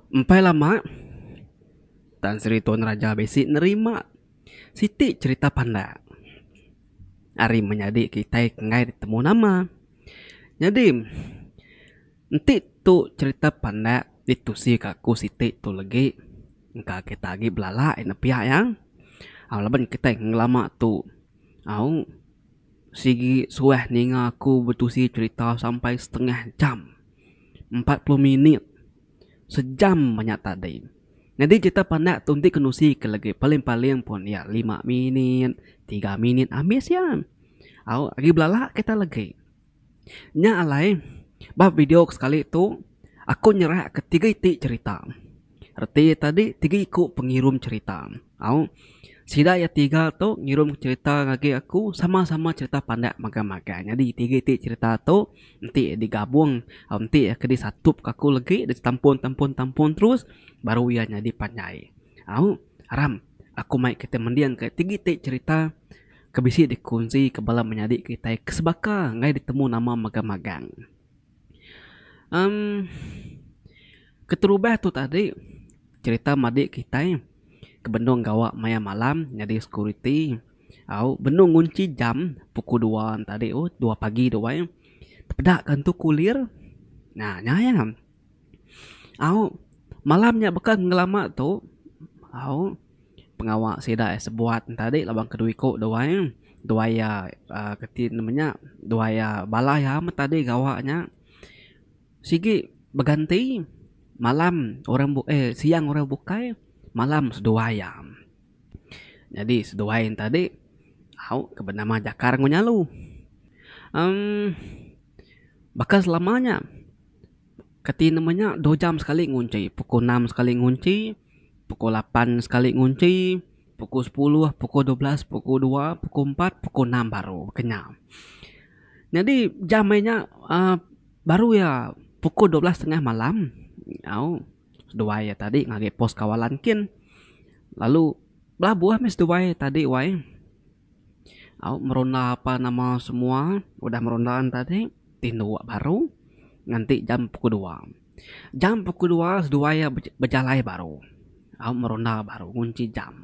Empai lama, Tan Sri Tun Raja bisi nerima siti cherita pandak ari menyadi kitai enggai ditemu nama. Nyadi, enti tu cherita pandak ditusika aku siti tu legi, engka kita agi belala iya nepiak iya. Au laban kitai ngelama tu au sigi suah ninga aku betusi cherita sampai setengah jam. empat puluh minit sejam banyak tadi nyadi kita pandak tu enti kenusi ke legi paling-paling pun iya lima minit tiga minit ambis iya au agi belala kita legi nya alai ba video ke sekali tu aku nyerak ke tiga iti cerita. Reti iya tadi tiga iku pengirum cherita. Au. Sida iya tiga tu ngirum cherita ngagai aku sama-sama cherita pandak magang-magang. Nyadi tiga iti cherita tu enti digabung au enti iya ke disatup ke aku legi ditampun-tampun-tampun terus baru iya nyadi panjai. Au. Aram aku mai kita mending ka tiga iti cherita ke bisi dikunsi ke bala menyadi kitai ke sebaka enggai ditemu nama magang-magang. Em keterubah tu tadi cerita madi kitai ke benung gawa maya malam nyadi security au benung ngunchi jam pukul dua tadi tu dua pagi tu ai tepeda ka entu kulir. Nya iya. Au malam nya baka ngelama tu au pengawa sida iya sebuat enta adi laban ke dua iko duai duai iya um ke ti nama nya duai iya bala iya amat tadi gawa nya sigi beganti malam orang bukai eh siang orang bukai malam seduai iya. Nyadi seduai enta adi au ke benama jakar enggau nyalu. um baka selama nya. Kati nama nya dua jam sekali ngunchi pukul enam sekali ngunchi pukul lapan sekali ngunchi pukul sepuluh pukul dua belas pukul dua pukul empat pukul enam baru kena nyadi jam meh nya uhh baru iya pukul dua belas tengah malam au seduai iya tadi ngagai pos kawalan kin lalu belabuh meh seduai iya tadi wai au merunda apa nama semua udah merunda ntadi. tinduk baru nganti jam pukul dua. Jam pukul dua seduai iya bejalai baru au merunda baru ngunchi jam.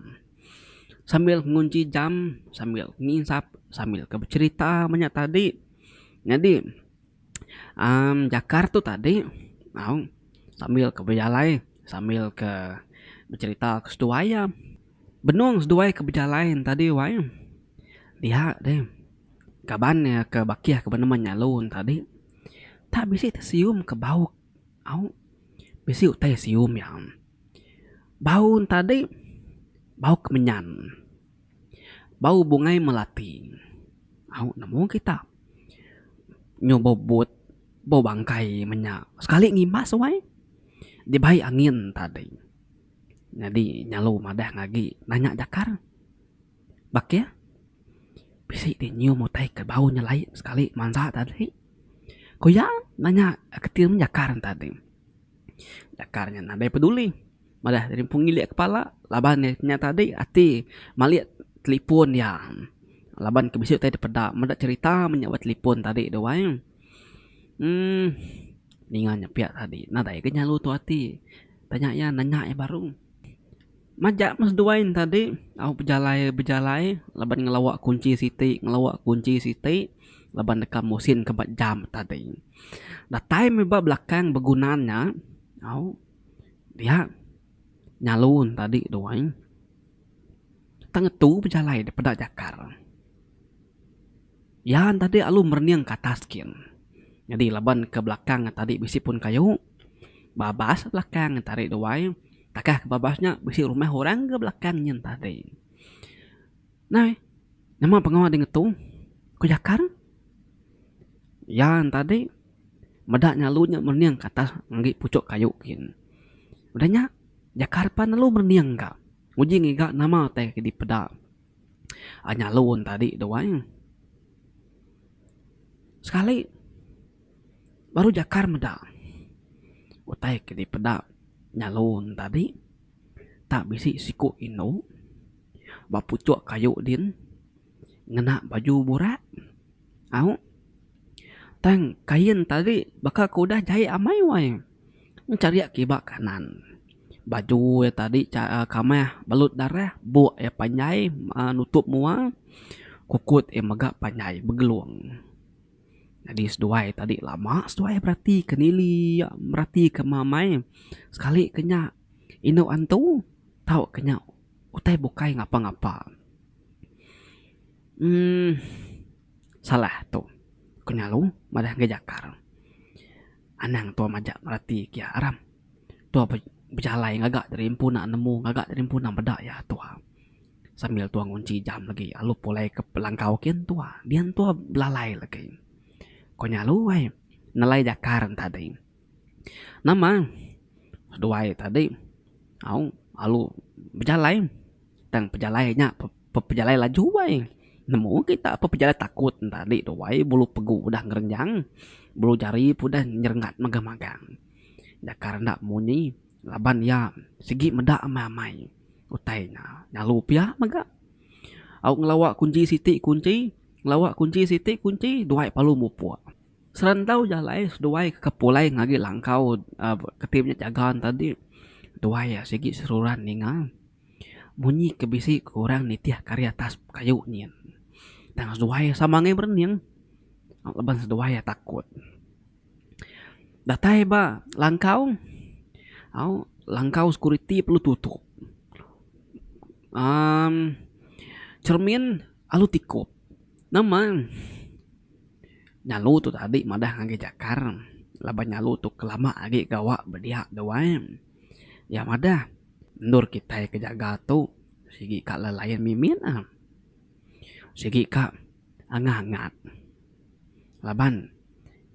Sambil ngunchi jam sambil nginsap sambil ke becherita menya tadi nyadi amm jakar tu tadi au sambil ke bejalai sambil ke becherita ke seduai iya. Benung seduai ke bejalai tadi wai dia deh. Kaban iya ke bakih ke penemu nyalu ne tadi tak bisi ti sium ke bau au bisi utai sium iya. Bau ne tadi bau kemenyan bau bungai melati au nemu kita nyu bau but bau bangkai meh nya sekali ngimbas wai dibai angin tadi. Nyadi nyalu madah agi nanya jakar. Bakih. Bisi ti nyium utai ke bau nyelai sekali mansa tadi. Ku iya nanya keti mun jakar ne tadi. Jakar nya nadai peduli madah rimpung ngilik kepala laban iya nya tadi ati malik telefon iya. Laban ke bisi utai dipeda meda cherita meh nya ba telefon tadi tu ai. Uhh ninga nya pia tadi nadai ke nyelalu tu ati. Tanya iya nanya iya baru. Majak meh seduai ne tadi au bejalai bejalai laban ngelawa kunchi siti ngelawa kunchi siti laban deka musin ke ba jam tadi. Datai meh ba belakang beguna nya au dia nyalu ne tadi duai tang ngetu bejalai deh peda jakar. Iya enda dek lalu merening ke atas gin. Nyadi laban ke belakang nya tadi bisi pun kayu. Babas belakang nya tadi duai. Takah ke babas nya bisi rumah orang ke belakang nyin tadi. Nai, nama pengawa di ngetu? Ku Jakar. Iya nya tadi meda nya lalu nya merening ke atas ngagai puchok kayu gin. Udah nya Jakar pan lalu merening ka. Nguji ngiga nama utai ke dipeda. ai nyalon tadi tu ai sekali baru jakar meda utai ke dipeda nyalon tadi tak bisi siko indu ba puchok kayu din ngena baju burak. Au. Tang, kain tadi baka ke udah jai amai wai. Enchariak kiba kanan. Baju iya tadi cha kamah belut darah, buk iya panjai uhh nutup mua, kukut iya mega panjai begelung. Nyadi seduai tadi lama seduai berati ke nili iya berati ke meh amai. Sekali ke nya indu antu tau ke nya utai bukai ngapa-ngapa. Emm. Salah tu. Ku Nyalu madah ngagai Jakar. Anang tua majak merati kiya Aram. Tua be bejalai ngaga diri empu nak nemu ngaga diri empu nak meda iya tua. Sambil tua ngunchi jam lagi alu pulai ke belangkau kin tua. Dian tua belalai lagi. Ku Nyalu ai nelai Jakar ntadi. Nama seduai tadi au alu bejalai tang pejalai nya pejalai laju ai nemu kita pejalai takut nya tadi tu ai bulu pegu udah ngerenjang bulu jari pun udah nyerengat megang megang nyakal enda munyi laban iya sigi meda amai amai utai nya lalu pia mega au ngelawa kunji siti kunji ngelawa kunji siti kunji duai palu mupuk. Serantau jalai seduai ke kepulai ngagi langkau keti nya jaga ne tadi duai iya sigi seruran ninga munyi ke bisi ke orang nitih ke ari atas kayu nyin tang seduai iya sama angai berening laban seduai iya takut. Datai ba langkau au langkau sekuriti perlu tutup uhh cermin alu tikup nama. Nyalu tu tadi madah ngagai jakar laban nyalu tu kelama agi gawa bedia deh wai. Iya madah endur kitai ke jaga tu sigi ka lelayan mimit ne sigi ka angah angat laban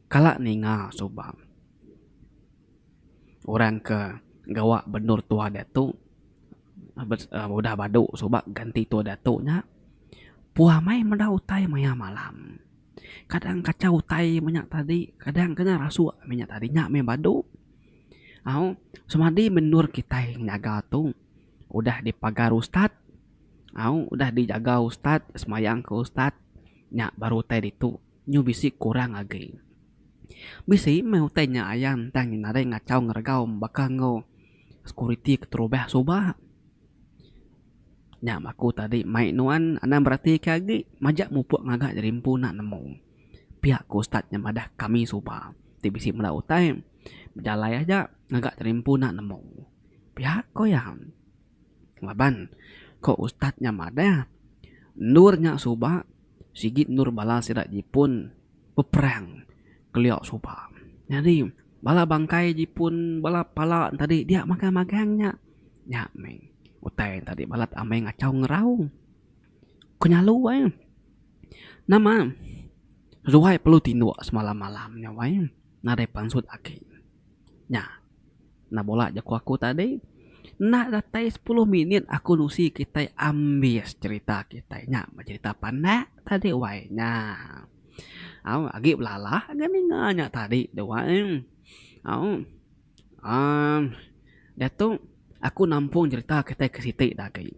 kala ninga suba. orang ke gawa benur tua diatu udah badu suba ganti tua diatu nya puah meh meda utai maya malam kadang kachau utai meh nya tadi kadang kena rasu meh nya tadi nya meh badu au semadi benur kitai nyaga tu udah dipagar ustad au udah dijaga ustad semayang ke ustad nya baru utai ditu. nyu bisi kurang agi. Bisi meh utai nya ayan ntang nyin nadai ngachau ngeregau baka enggau sekuriti keterubah suba. Nya meh aku tadi mai nuan anang beratika agi majak mupuk ngaga jadi empu enda nemu. Pia ku ustaz nya madah kami suba ti bisi meda utai bejalai aja ngaga jadi empu enda nemu. Pia ko iya. Laban, ko ustaz nya madah, endur nya suba sigi endur bala sida jipun beperang kelio suba. Nyadi, bala bangkai jipun, bala pala tadi dia magang magang nya. Nya meh utai nya tadi balat amai ngachau ngerau. Ko nyelu ai, nama ruai perlu tinduk semalam malam nya wai nadai pansut agi. Nya. Nah bola jaku aku tadi enda datai sepuluh minit aku nusi kitai ambis cerita kitai nya meh cerita panak tadi wai nya au agi belala ga ninga nya tadi tu wai au aaa diatu aku nampung cerita kitai ke siti da agi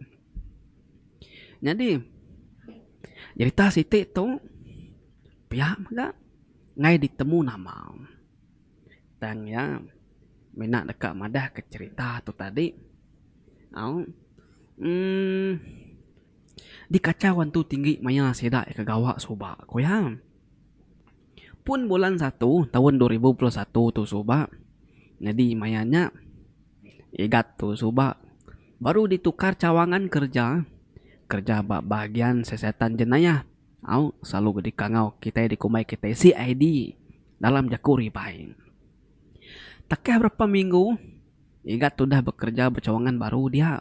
nyadi cerita siti tu pia mega ngai ditemu nama. Tang iya mina deka madahka cherita tu tadi. Au uhh dikachau antu tinggi maya sida ke gawa suba ku iya. Pun bulan satu taun dua ribu dua puluh satu tu suba nyadi maya nya Igat tu suba baru ditukar cawangan kerja, kerja ba bahagian siasatan jenayah. Au selalu ke dikangau kitai dikumbai kitai CID dalam jaku ribai. Takah berapa minggu Igat tu udah bekereja ba cawangan baru dia,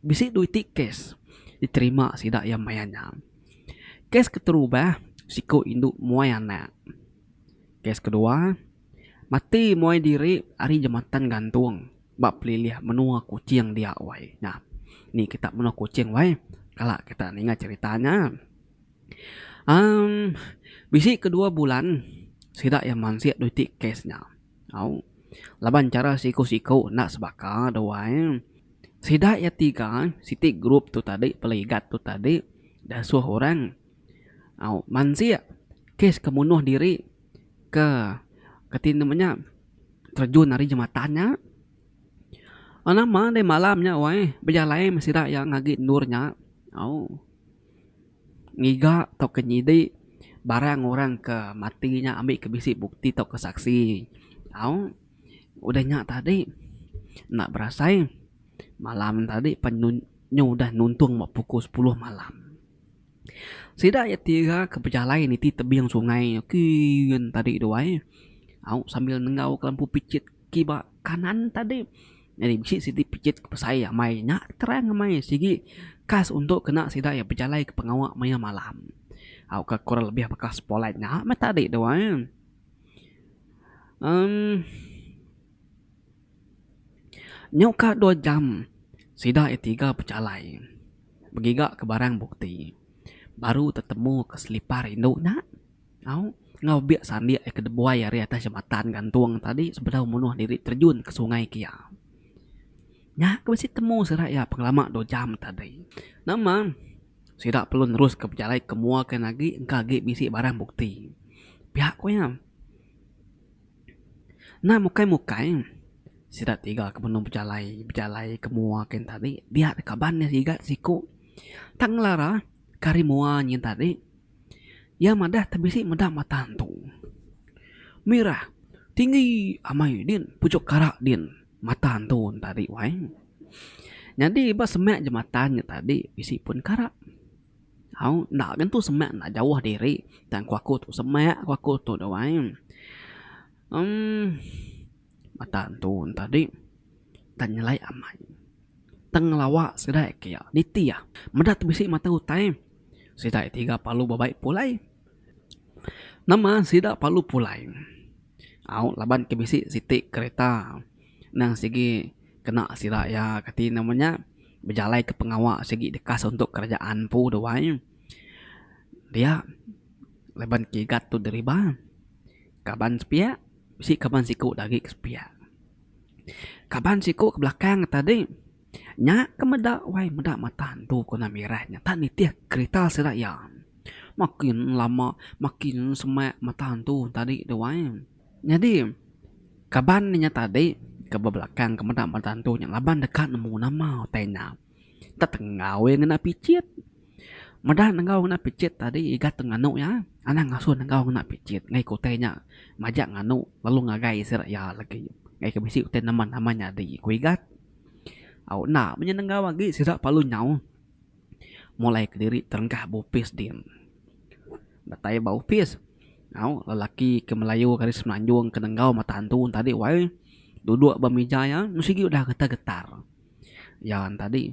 bisi dua iti kes diterima sida iya maya nya. Kes keterubah, siku indu muai anak. Kes kedua, mati muai diri ari jematan gantung. Ba pelilih menua Kuching dia wai nya. Ni kita menua Kuching wai kala kita ninga cerita nya. Amm bisi ke dua bulan sida iya mansik dua iti kes nya. Au laban chara siku-siku enda sebaka deh wai. Sida iya tiga siti group tu tadi peligat tu tadi deh suh orang. Mansik kes ke munuh diri ke kati nama nya terjun ari jematan nya nama deh malam nya weh bejalai meh sida iya ngagi endur nya au ngiga tauka nyidi barang orang ke mati nya ambi ke bisi bukti tauka saksi au udah nya tadi enda berasai malam tadi pe nyu udah nuntung ba pukul sepuluh malam. Sida iya ti iraka bejalai niti tebing sungai kiin tadi tu ai au sambil nenggau ke lampu picit kiba kanan tadi nyadi bisi siti picit ke besai amai nya terang amai sigi khas untuk kena sida iya bejalai ke pengawa maya malam au ka kurang lebih baka spotlight nya meh tadi tu ai emm. Nyau ka dua jam sida iya tiga bejalai begiga ke barang bukti baru tetemu ke selipar indu nya au enggau bek sandik iya ke dibuai ari atas jambatan gantung tadi sebedau munuh diri terjun ke sungai kia. Nya ke bisi temu sida iya pengelama dua jam tadi. Nama sida perlu neruska bejalai ke mua kian agi engka agi bisi barang bukti. Pia ku iya. Enda mukai-mukai, sida tiga ke benung bejalai, bejalai ke mua kain tadi dia deh kaban iya siga siku. Tang ngelara ke hari mua nyin tadi iya madah ti bisi meda mata antu. Mirah tinggi amai din pujuk kara din mata antu ne tadi wai. Nyadi ba semak jematan nya tadi bisi pun kara. Au enda ke tu semak enda jauh diri tang ku aku tu semak ku aku tu doh ai. Emm mata entu tadi tang nyelai amai tang ngelawa sida ke iya niti iya meda ti bisi mata utai sida tiga palu bebai pulai nama sida palu pulai au laban ke bisi siti kereta. Endang sigi kena sida iya kati nama nya bejalaika pengawa sigi dekas untuk kerajaan empu tu ai dia laban kigat tu deriba kaban sepiak bisi kaban siku da agi ke sepiak kaban siku ke belakang nya tadi nya ke meda wai meda mata antu ku nang miras nya enta nitih kerita sida iya makin lama makin semak mata antu tadi tu ai. Nyadi, kaban inya tadi ke bebelakang ke meda meda antu nya laban deka nemu nama utai nya. Tetenggau iya ngena pichit. Meda nenggau ngena pichit tadi iga tu nganu iya, anang ngasuh nenggau ngena pichit ngaih ke utai nya majak nganu lalu ngagai sida iya lagi. Ngaih ke bisi utai nama nama nyadi ku iga. Au enda mih inya nenggau agi sida parlu nyauh mulai kediri terengkah bopis din. Datai ba opis. Au, lelaki ke Melayu ke ari Semenanjung ke nenggau mata antu tadi wai duduk ba mija iya meh sigi udah getar-getar. Iya tadi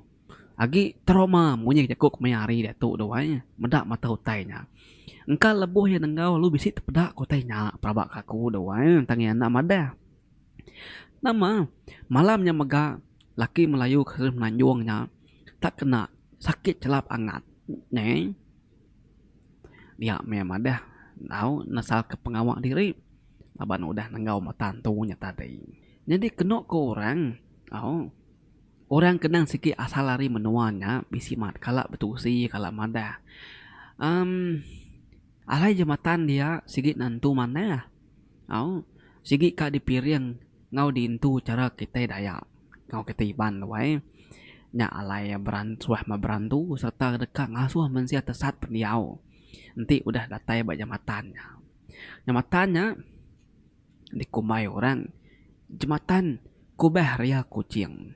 agi trauma munyi jaku ke maya hari diatu tu wai meda mata utai nya. Engka lebuh iya nenggau lalu bisi tepeda ke utai nya pelaba ke aku tu wai tang iya enda madah. Nama malam nya mega. laki melayu ke semenanjung nya tak kena sakit chelap angat neh dia meh madah tau nesalka pengawa diri laban udah nenggau mata entu nya tadi. Nyadi kenu ku orang au orang ke endang sigi asal ari menua nya bisi mat kala betusi kala madah emm alai jematan dia sigi nentu manah. Au, sigi ka dipiring enggau diintu chara kitai Dayak enggau kitai Iban luai nya alai beran suah meh berantu sereta deka ngasuh mensia tesat pendiau enti udah datai ba jematan nya. Jematan nya dikumbai orang Jematan Kubah Ria Kuching.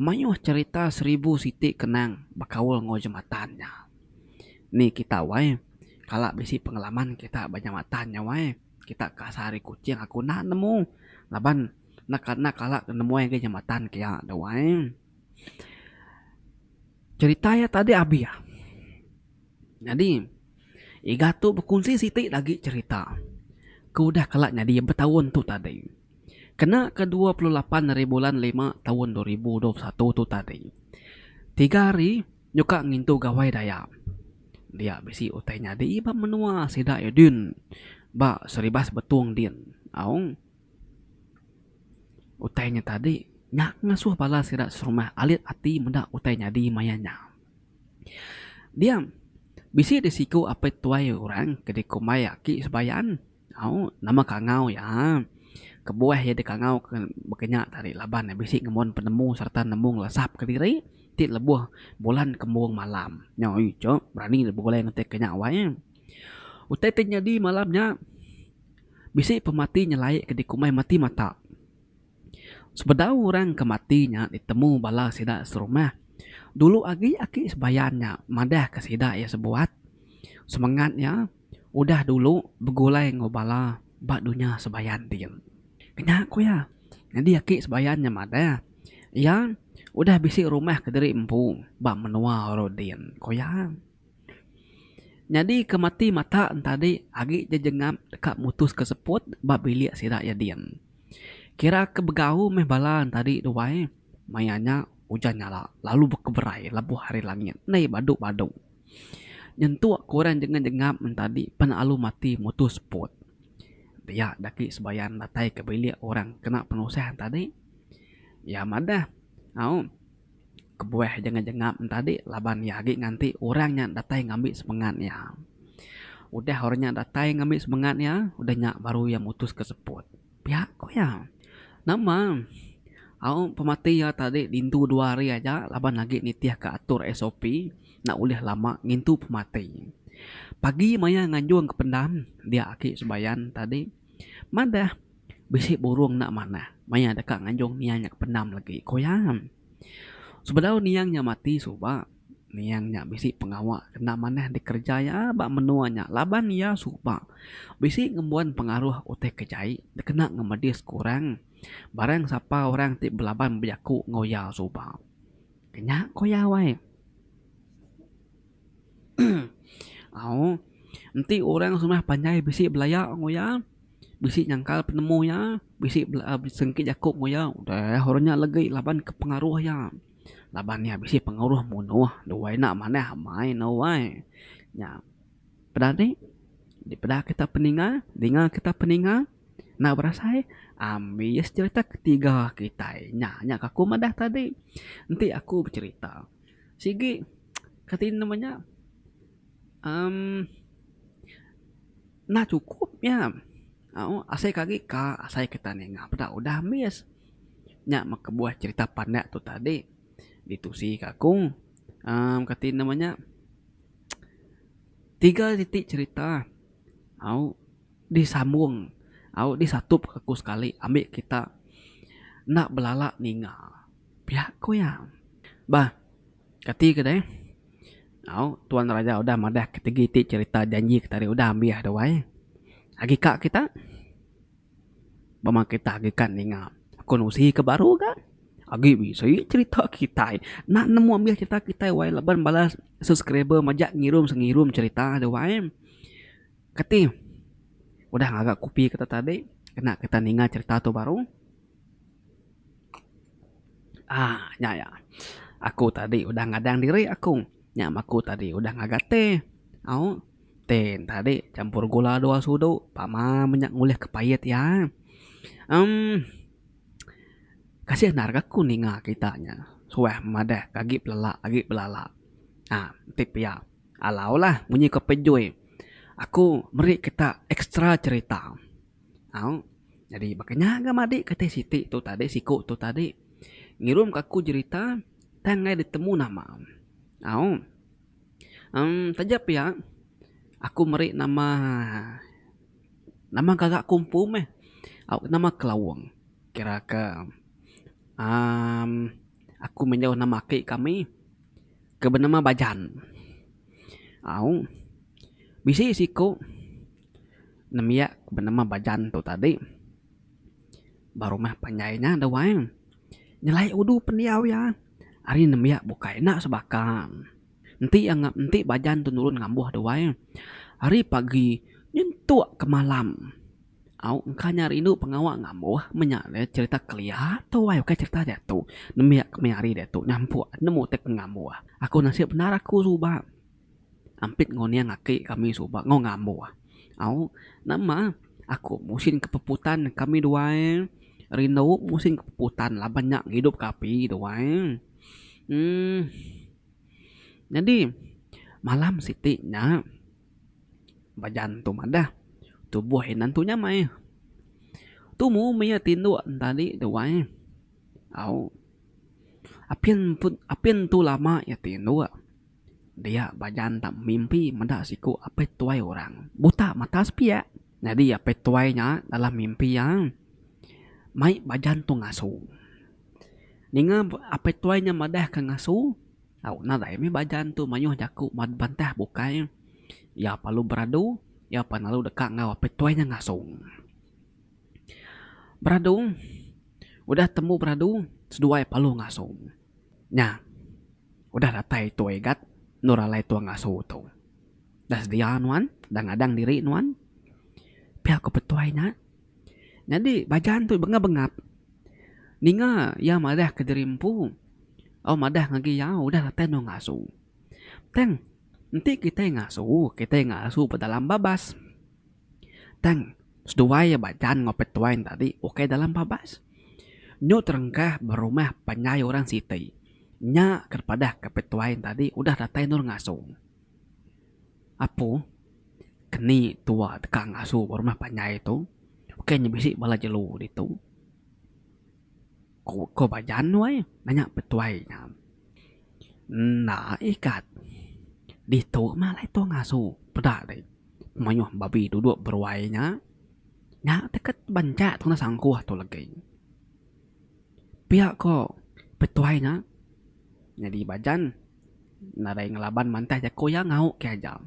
Mayuh cerita seribu siti kenang bekaul enggau jematan nya. Ni kita wai kala bisi pengalaman kita ba jematan nya wai. Kita ke asal ari Kuching aku enda nemu laban enda ka enda kala ke nemuai agei jematan ke iya tu wai. Cerita iya tadi abih iya. Nyadi iga tu bekunsi siti lagi cerita ke udah kala nyadi betaun tu tadi. Kena ke dua puluh lapan ari bulan lima taun dua ribu dua puluh satu tu tadi, tiga hari nyuka ngintu Gawai Dayak dia bisi utai nyadi ba menua sida iya din ba Seribas Betong din. Aung utai nya tadi nya ngasuh bala sida serumah alit ati meda utai nyadi maya nya. Dia bisi disiku apai tuai orang ke dikumbai aki Sebayan. Au, nama kangau iya? Kebuah iya dikangau ke baka nya tadi laban iya bisi ngembuan penemu sereta nemu ngelesap ke diri ti lebuh bulan kembung malam. Nya oi cu, berani deh begulai ngetik ke nya wai. Utai ti nyadi malam nya bisi pemati nyelai ke dikumbai mati mata. Sebedau orang ke mati nya ditemu bala sida serumah. Dulu agi aki sembayan nya madahka sida iya sebuat semengat iya. udah dulu begulai enggau bala ba dunya sebayan ti jem. Kenya ku iya, nyadi aki sebayan nya madah iya udah bisi rumah kediri empu ba menua Oro din, ku iya. Nyadi ke mati mata entadi agi jejengap deka mutuska seput ba bilik sida iya din. Kira ke begau meh bala entadi duai maya nya ujan nyala lalu bekeberai lebuh ari langit endai badu-badu. Nyentuk korang jangan jengap entadi pan alu mati mutu spot. Pia daki sebayan datai ke bilik orang kena penusah entadi. Iya madah au kebuah jangan jengap entadi laban iya agi nganti orang nya datai ngambi semengat iya. Udah orang nya datai ngambi semengat iya udah nya baru iya mutuska spot. Pia ku iya. Nama? Au pemati iya tadi diintu dua hari aja laban agi nitihka atur sop enda ulih lama ngintu pemati. Pagi maya nganjungka pendam dia aki Subayan tadi madah bisi burung enda manah maya deka nganjung nia nya ke pendam lagi ku iya. Sebedau niang nya mati suba, niang nya bisi pengawa kena manah dikereja iya ba menua nya laban iya suba bisi ngembuan pengaruh utai ke jai dikena ngemedis ke orang barang sapa orang ti belaban bejaku enggau iya suba. Kenya ku iya wai. Au, enti orang semah panjai bisi belaya enggau iya. bisi nyangkal penemu iya, bisi bela besengke jaku enggau iya udah orang nya legi laban ke pengaruh iya. Laban iya bisi pengaruh munuh duai enda manah amai ne wai. Nya peda ati dipeda kita peninga dinga kita peninga enda berasai ambis cherita ketiga kitai nya nya ke aku madah tadi enti aku becherita. Sigi kati nama nya emm. Enda chukup nya. Au, asai ke agi ka, asai kita ninga peda udah ambis. Nya meh kebuah cherita pandak tu tadi. Ditusi ka aku uhh kati nama nya tiga siti cherita au disambung au disatup ka aku sekali ambi kita enda belala ninga pia ko iya. Bah. Kati ke deh? Au, Tuan Raja udah madah ketegi ti cherita janji kita ari udah ambih deh wai. Agi ka kita? Bama kita agi ka ninga akun usi ke baru ga? Agi bisi cherita kitai nak nemu ambih cherita kitai wai laban bala subscriber majak ngirum sengirum cherita deh wai. Kati udah ngaga kopi kita tadi kena kita ninga cherita tu baru? Aaa nya ya. Aku tadi udah ngadang diri aku nya meh aku tadi udah ngaga teh. Au teh tadi campur gula dua sudu pama meh nya ngulih ke pait iya. Em kasih nda rega aku ninga kita nya suah madah agi belala agi belala. Aa enti pia alaulah munyi ko pejoi aku meri kita extra cerita. Au. Nyadi baka nya ga madik kati siti tu tadi siku tu tadi ngirum ka aku jerita tang enggai ditemu nama. Au. Em taja pia aku meri nama nama gaga aku empu meh. Au nama Kelawong. Kira ke amm aku menyau nama aki kami ke benama Bajan. Au. Bisi siku. Nembiak benama Bajan tu tadi baru meh panjai nya deh wai. Nyelai udu pendiau iya ari nembiak bukai enda sebaka. Enti iya nge enti Bajan tu nurun ngambuh deh wai ari pagi nyentuk ke malam. Au engka nya rindu pengawa ngambuh meh nya deh cherita kelia tu wai bukai cherita diatu. Nembiak kemari diatu nyampuk nemu utai ke ngambuh. Aku nasip endar aku suba. Ampit nguning aki kami suba enggau ngambo. Au nama aku musin ke puputan kami duai rindu musin ke puputan laban nya ngidup ke api duai uhh nyadi malam siti nya bajan tu madah tubuh inan tu nyamai. Tumu mih tindu tadi duai au apin apin tu lama iya tindu. Dia ba jantang mimpi meda siku apai tuai orang buta mata sepiak. Nyadi apai tuai nya dalam mimpi iya mai ba jantung asu. Ninga apai tuai nya madahka ngasu, au nadai mih ba jantung mayuh jaku bantah bukai. Iya pa lalu beradu, iya pa lalu deka enggau apai tuai nya ngasu. Beradu, udah tembu beradu seduai pa lalu ngasu. Nya, udah datai tua Igat endur alai tua ngasu tu. Dah sedia nuan, dah ngadang diri nuan. Pia ku petuai nya. Nyadi Bajan tu bengap-bengap ninga iya madah ke diri empu. Au madah ngagai iya udah datai endur ngasu. Tang, enti kitai ngasu, kitai ngasu ba dalam babas. Tang, seduai iya ba jaan enggau petuai enda agi ukai dalam babas. Nyu terengkah ba rumah panjai orang siti. Nya ke dipadahka petuai enda agi udah datai endur ngasung. Apu, keni tuwa deka ngasu ba rumah panjai tu ukai nya bisi bala jelu ditu. Ku ko ba Jan nuai nanya petuai nya. Enda ikat. Ditu mah alai tong asu peda deh. Mayuh babi duduk beruai nya. Nya teket banca tundah sangkuh tu legi. Pia ko petuai nya. Nyadi ba Jan nadai ngelaban mantai jaku iya ngau ke aja.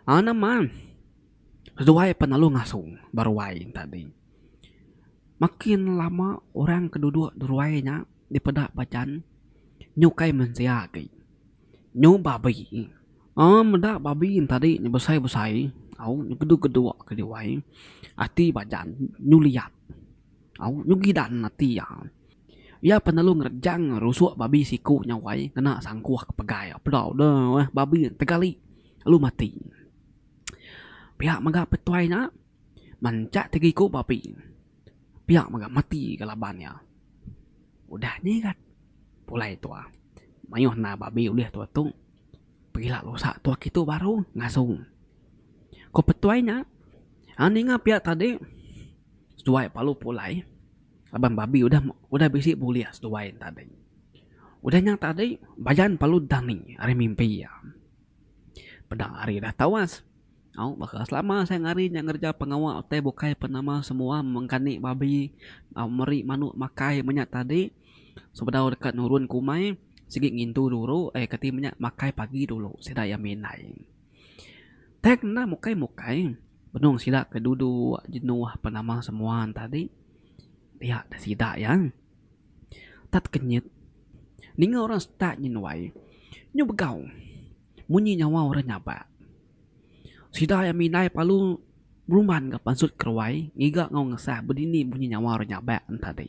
Nama seduai pelalu ngasu beruai tadi. Makin lama orang ke duduk di ruai nya dipeda pajan nyukai mensia agi nyu babi uhh meda babi tadi nyu besai besai au nyu geduk geduk ke diwai ati pajan nyu liat au nyu gidan ati iya. Iya pan lalu ngerejang rusuk babi siku nya wai ngena sangkuh ke pegai peda deh babi tegali lalu mati. Pia mega petuai nya. Mancak tegiko ba api. Pia mega mati ga laban iya. Udah nyigat pulai tua. Maioh enda babi ulih tua tu. Pegila lusak tua kitu baru ngasu. Ko petuai nya ninga pia tadi seduai palu pulai laban babi udah udah bisi bulih seduai tadi. Udah nya tadi bajan palu dani ari mimpi iya. Peda ari dah tawas. Au baka selama siang hari nya ngereja pengawa utai bukai pen nama semua mengkani babi meri manuk makai menya tadi sebedau deka nurun ke umai sigi ngintu dulu ai keti menya makai pagi dulu sida iya mih indai. Tai kena mukai mukai benung sida ke duduk jenuh pen nama semua tadi pia da sida iya tak tekenyit ninga orang setak nyenuai nyu begau. Munyi nyawa orang nyabak. Sida iya mindai palu berumban ga pansut keruai ngiga enggau ngesah bedini munyi nyawa orang nyabak enti tadi.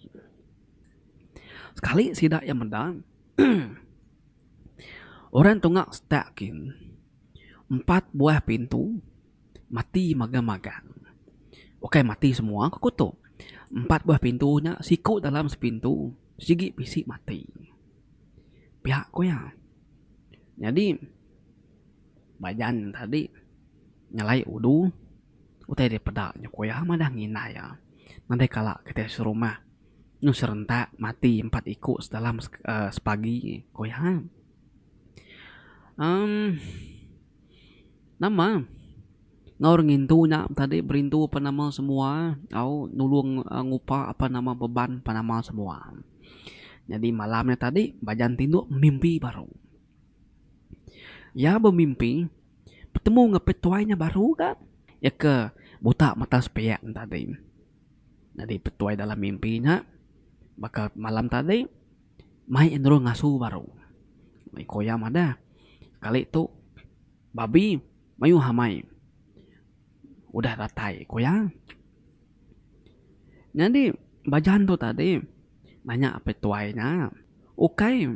Sekali sida iya meda orang tunga setak kin empat buah pintu mati magang-magang. Ukai mati semua ke kuto. Empat buah pintu nya siku dalam sepintu sigi bisi mati. pia ku iya nyadi ba jan tadi nyelai udu utai dia peda nyu ku iya madah ngina iya nadai kala kitai serumah nyu serentak mati empat iku dalam sekali pagi ku iya. amm Nama ngaur ngintu nya tadi berintu apan nama semua au nulung ngupa apan nama beban apan nama semua. Nyadi malam nya tadi Bajan Tinduk bemimpi baru. Iya bemimpi betemu enggau pia tuai nya baru ka iya ke buta mata sepiak nya tadi. Nyadi petuai dalam mimpi nya baka malam tadi. Mai endur ngasu baru. Iko iya madah, kali tu babi mayuh amai udah datai ko iya. Nyadi bajan tu tadi nanya apai tuai nya, ukai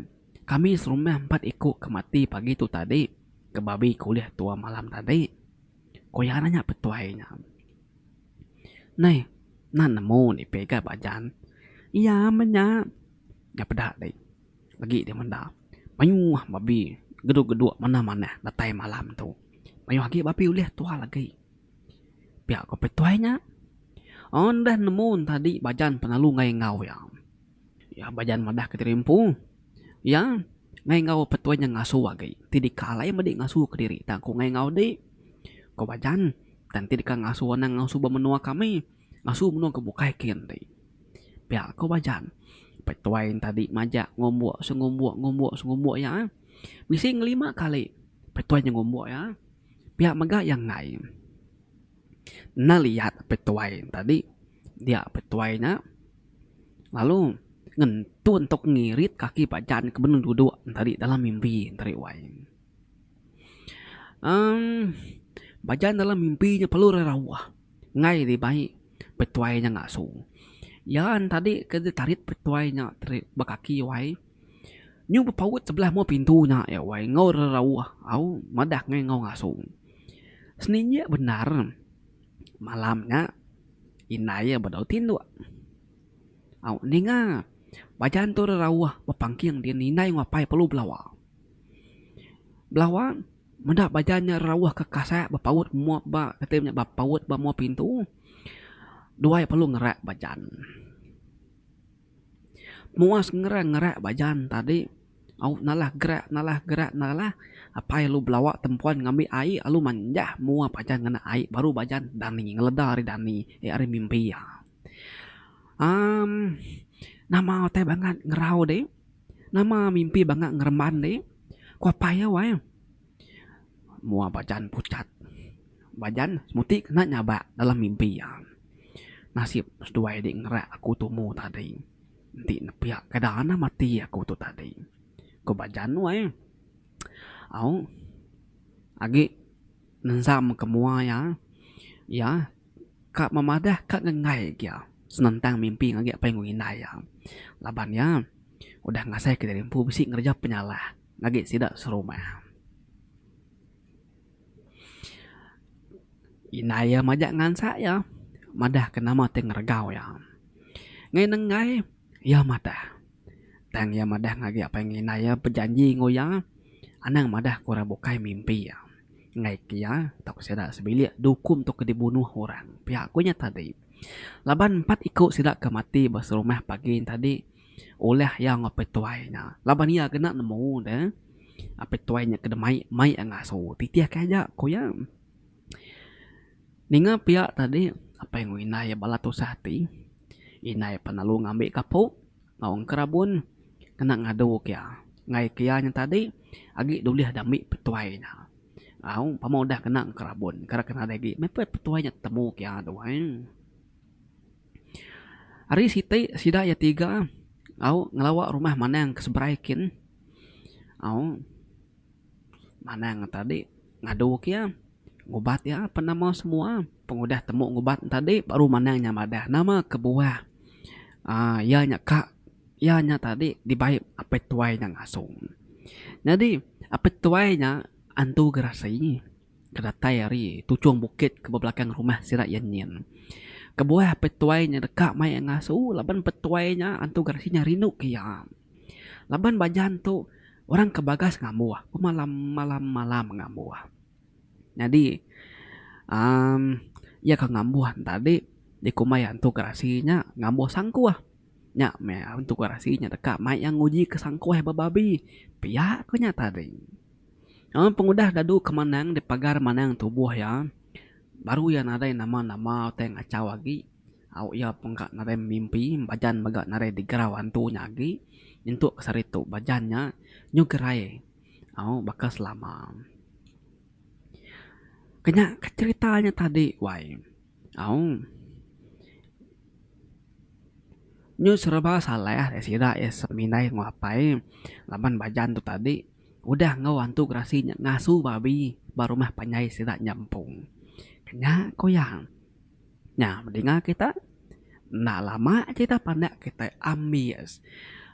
kami serumah empat iko ke mati pagi tu tadi ke babi ke ulih tua malam tadi. Ko iya nanya petuai nya. Neh, nan nemu ni peh ga ba jan. Iya meh nya. Nya peda dei. Agi dei menda. Mayuh babi geduk-geduk manah manah datai malam tu. Mayuh agi babi ulih tual agi. Pia ko peh tuai nya. Udah nemu tadi ba jan pengalu enggau iya. Iya ba jalan madah ke diri empu. Iya ngai enggau petuai nya ngasu agi ti deka alai medi ngasu kediri tang ku ngai enggau di ko ba jan tang ti deka ngasu anang ngasu ba menua kami ngasu menua ke bukai ke enti. Pia ko ba jan petuai enta di majak ngumbuk sengumbuk ngumbuk sengumbuk iya bisi ngelima kali petuai nya ngumbuk iya pia mega iya ngai. Naliat petuai enta di. Dia pe tuai nya lalu ngentun tok ngirit kaki pajan ke benung duduk tadi dalam mimpi tadi wai. Em pajan dalam mimpi nya perlu rauh ngai dibai petuai nya ngasu. Iya nya tadi ke ditarit petuai nya ba kaki wai nyu bepaut sebelah mua pintu nya iya wai enggau rauh au madah ngai enggau ngasu. Senilik bendar. Malam nya, indai iya bedau tinduk. Au ninga, baja antu ri rauh bepangking di indai enggau apai perlu belawa. Belawa meda baja nya rauh ke kasai bepaut mup ba kati nya bepaut ba mup pintu. Dua iya perlu ngerak bajan. Muas ngerang ngerak ba jan tadi au nalah gerak nalah gerak nalah apai alu belawa tempuan ngambi ai alu manjah mua ba jan ngena ai baru ba jan dani ngeleda ari dani ari mimpi iya. uhh Nama utai bangat ngerau deh nama mimpi bangat ngereban deh ku apai iya weh. Mua bajan pucat bajan semuti kena nyabak dalam mimpi iya. Nasib seduai dik ngerak aku tumu tadi enti nepiak keda nah mati aku tu tadi ku bajan nuai. Au agi nenzam ke mua iya, iya ka memadah ka ngengai ke iya senentang mimpi ngagai apai enggau indai iya laban iya udah ngasai ke diri empu bisi ngereja penyalah. ngagi sida serumah. Indai iya majak ngansak iya madahka nama ti ngeregau iya. Ngin nenggai iya madah tang iya madah ngagai apai enggau indai iya bejanji enggau iya anang madah ke orang bukai mimpi iya. Enggai ke iya tauka sida sebilik dukung tauka dibunuh orang. Pia ku nya tadi laban empat iku sida ke mati ba serumah pagi nya tadi. Ulah iya ngapai tuai nya laban iya kena nemu deh apai tuai nya ke demai mai iya ngasu titih ke aja ku iya. Ninga pia tadi apai enggau indai iya bala tusah ati indai pan lalu ngambi kapu enggau engka rabun kena ngadu ke iya ngagai ke iya nya tadi agi dulih deh ambi petuai nya au pemau udah kena engka rabun kena nadai agi meh pe petuai nya temu ke iya duai. Ari siti sida iya tiga au ngelawa rumah Manang ke seberai kin au Manang enta adi ngadu ke iya ngubat iya apan nama semua pengudah temu ngubat enta adi baru Manang nya madah nama kebuah aaa iya nya ka iya nya tadi dibai Apai Tuai nya ngasu. Nyadi Apai Tuai nya antu gerasi. Ke datai ari tuchung bukit ke bebelakang rumah sida iya nyin. Kebuah apai tuai nya deka mai iya ngasu laban apai tuai nya antu geresi nya rindu ke iya. Laban ba ajan tu orang ke bagas ngambuh pemalam malam malam ngambuh. Nyadi uhh iya ke ngambuh ne tadi dikumbai antu geresi nya ngambuh sangkuh. Nya meh antu geresi nya deka mai iya nguji ke sangkuh ba babi pia ku nya tadi. Laban pengudah Dadu ke Manang dipagar Manang tubuh iya, baru iya nadai nama-nama utai ngachau agi. Au iya pun ka nadai memimpi Bajan mega nadai digerau antu nya agi. Nyentuk ke sehari tu Bajan nya nyu gerai au baka selama. Kenya ka cherita nya tadi wai au. Nyu sereba salah sida iya semindai enggau apai laban Bajan tu tadi Udah enggau antu gerasi nya ngasu babi ba rumah panjai sida nyampung. Kenya ku iya. Nya bedinga kita enda lama cerita pandak kita ambis.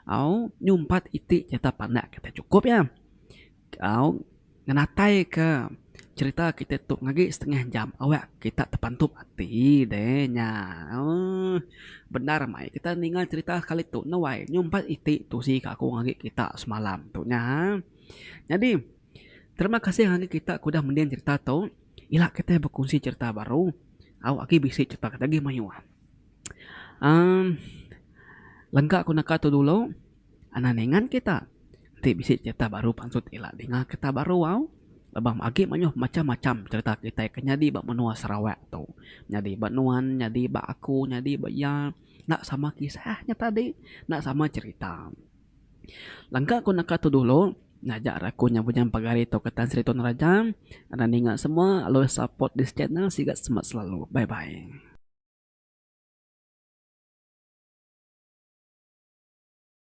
Au nyumpat iti cerita pandak kita chukup iya. Au ngenataika cerita kita tu ngagai setengah jam awak kita tepantup ati deh nya. Ooh. Bendar mai kita ninga cerita kali tu nuai nyumpat iti tusi ka aku agi kita semalam tu nya. Nyadi terima kasih ngagai kita ke udah mending cerita tu ila kitai bekunsi cerita baru au agi bisi cerita kita agi mayuh. Aaa lengka ku naka tu dulu. Anak ningan kita enti bisi cerita baru pansut ila dinga kita baru au laban agi mayuh macham-macham cerita kitai ke nyadi ba menua Sarawak tu. Nyadi ba nuan, nyadi ba aku, nyadi ba iya enda sama kisah nya tadi, enda sama cerita. Langka ku naka tu dulu ngajar aku nya bujang pagari tu ke Tan Sri Tun Raja. Anak ninga semua always support this channel siga semak selalu. Bye bye.